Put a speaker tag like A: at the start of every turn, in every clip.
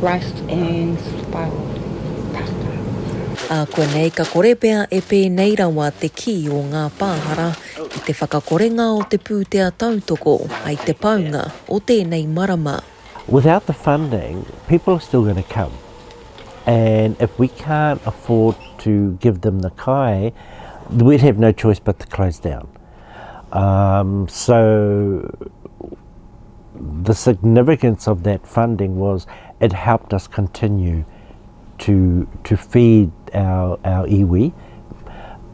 A: Rice and spiral pasta. A
B: konei ka kore pea e pēnei rawa te kī o ngā pāhara ki te whakakorenga o te pūtea tautoko hai te paunga o tēnei marama. Without the
C: funding, people are still going to come and if we can't afford to give them the kai, we'd have no choice but to close down. So, the significance of that funding was it helped us continue to to feed our our iwi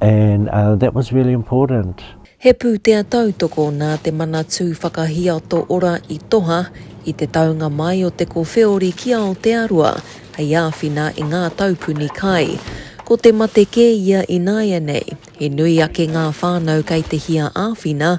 C: and uh, that was really important. He pūtea
B: tautoko nā te Manatū Whakahiato Ora i toha i te taunga mai o te kowheori ki Aotearoa hei āwhina i ngā taupuni kai. Ko te mate kē ia ināianei, he nui ake ngā whānau kei te hia āwhina,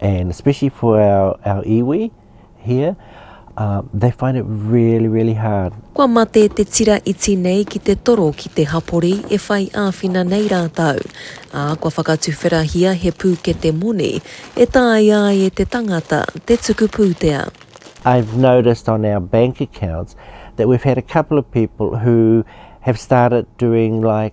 C: and especially for our, our iwi here, uh, they find it really, really hard. Kua mate te
B: tira iti nei ki te toro ki te hapori e whai āwhina nei rātou, ā, kua whakatuwherahia he pūkete moni e tāia ai e te tangata te tuku pūtea. I've
C: noticed on our bank accounts that we've had a couple of people who have started doing like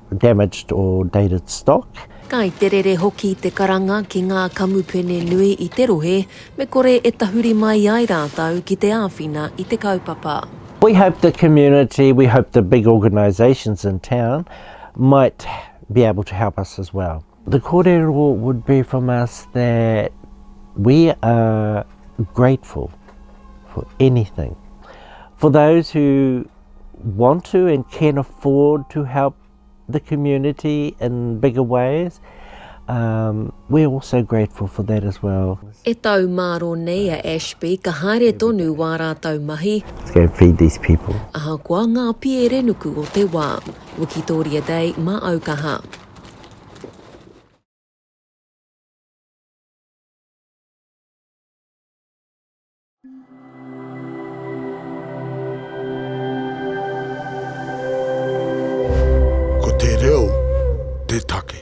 C: damaged or dated stock. Kai te rere
B: hoki te karanga ki ngā kamupene nui i te rohe me kore e tahuri mai ai rātou ki te āwhina i te kaupapa. We hope the
C: community, we hope the big organisations in town might be able to help us as well. The korero would be from us that we are grateful for anything. For those who want to and can afford to help the community in bigger ways, um, we're also grateful for that as well. E tau māro
B: nei a Ashby ka haere tonu wā rātou mahi. Let's go feed these
C: people. Ahakoa ngā
B: pierenuku o te wā. Wikitoria Day mā Aukaha.
D: Ko te reo te take.